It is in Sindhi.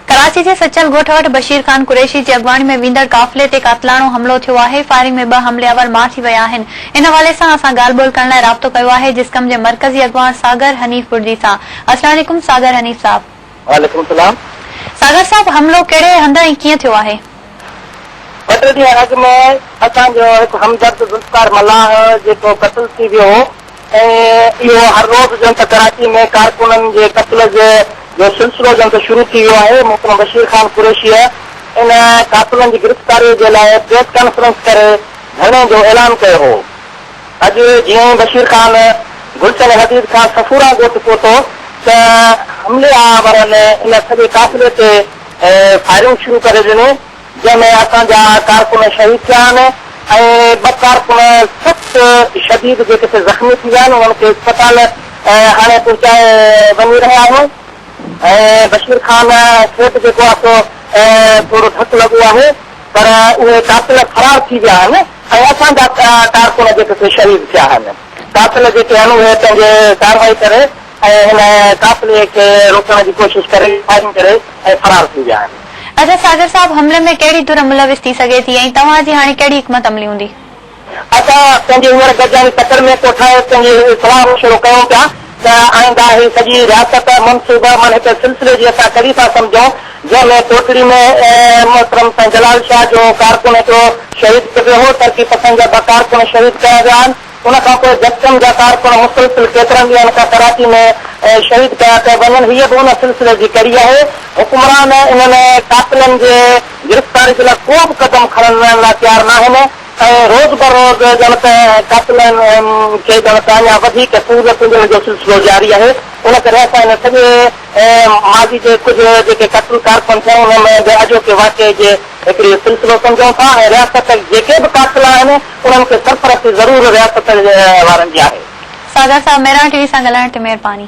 ڪراچي جي سچل ڳوٺ وٽ بشير خان قريشي جي اڳواڻي ۾ ويندڙ قافلي تي قاتلاڻو حملو ٿيو آهي، فائرنگ ۾ ٻه حملي آور مار ٿي ويا آهن، ان حوالي سان اسان ڳالهه ٻولهه ڪرڻ لاء رابطو ڪيو آهي جسقم جي مرڪزي اڳواڻ ساگر حنيف بڙدي سان، السلام عليڪم ساگر حنيف صاحب. وعليڪم السلام. ساگر صاحب حملو ڪهڙي هنڌ ۽ ڪيئن ٿيو آهي؟ ٻه ٽي ڏينهن اڳ ۾ اسان جو هڪ همدرد ذوالفقار ملاح جيڪو قتل ٿي ويو هو ۽ اهو هر روز ڄڻ ته ڪراچي ۾ ڪارڪنن جي قتل جي جو سلسلو ڄڻ ته شروع ٿي ويو آهي، محترم بشير خان قريشيء ان قاتلن جي گرفتاريء جي لاء پريس ڪانفرنس ڪري ڌرڻي جو اعلان ڪيو هو. اڄ جيئن ئي بشير خان گلشن حديد کان صفوران ڳوٺ پهتو ته حملي آورن ان سڄي قافلي تي فائرنگ شروع ڪري ڏني جنهن ۾ اسان جا ڪارڪن شهيد ٿيا آهن ۽ ٻه ڪارڪن سخت شديد جي ڪٿي زخمي ٿي ويا آهن انهن کي اسپتال هاڻي پهچائي وڃي رهيا آهيون ۽ بشير خان کي به جيڪو آهي سو ٿورو ڌڪ لڳو آهي پر اهي قاتل فرار ٿي ويا آهن ۽ اسان جا ڪارڪن جي ڪٿي شهيد ٿيا آهن قاتل جيڪي آهن اهي پنهنجي ڪارروائي ڪري ۽ هن قافلي کي روڪڻ جي ڪوشش ڪري فائرنگ ڪري ۽ فرار ٿي ويا آهن. اچا ساگر صاحب حملي ۾ ڪهڙي ڌر ملوث ٿي سگهي ٿي ۽ توهان جي هاڻي ڪهڙي حڪمت عملي هوندي؟ اچا پنهنجي هينئر گڏجاڻي تڪڙ ۾ ڪوٺائي پنهنجي صلاح مشورو ڪيون پيا ته آئنده هي سڄي رياست منصوبه من هڪ سلسلي جي اسان ڪڙي ٿا سمجهون جنهن ۾ ڪوٽڙي ۾ محترم سائين جلال شاهه جو ڪارڪن هڪڙو شهيد ٿي پيو هو ترقي پسند جا ٻه ڪارڪن شهيد ڪيا ويا آهن ان کان پوء جسٽم جا ڪارڪن مسلسل ڪيترن ڏينهن کان ڪراچي ۾ شهيد ڪيا پيا وڃن، هيء به ان سلسلي جي ڪڙي آهي. حڪمران انهن قاتلن جي گرفتاري جي لاء ڪو به قدم کڻڻ لاء تيار ناهن ۽ روز بروز ڄڻ ته قاتلن کي ڄڻ ته اڃا وڌيڪ سهولتون ڏيڻ جو سلسلو جاري آهي. ان ڪري اسان هن سڄي ماضي جي ڪجهه جيڪي قتل ڪارڪن ٿيا انهن جي اڄوڪي واقعي جي هڪڙي سلسلو سمجهون ٿا ۽ رياست جيڪي به قاتل آهن انهن کي سرپرستي ضرور رياست وارن جي آهي. ساگر صاحب ميران ٽي وي سان ڳالهائڻ تي مهرباني.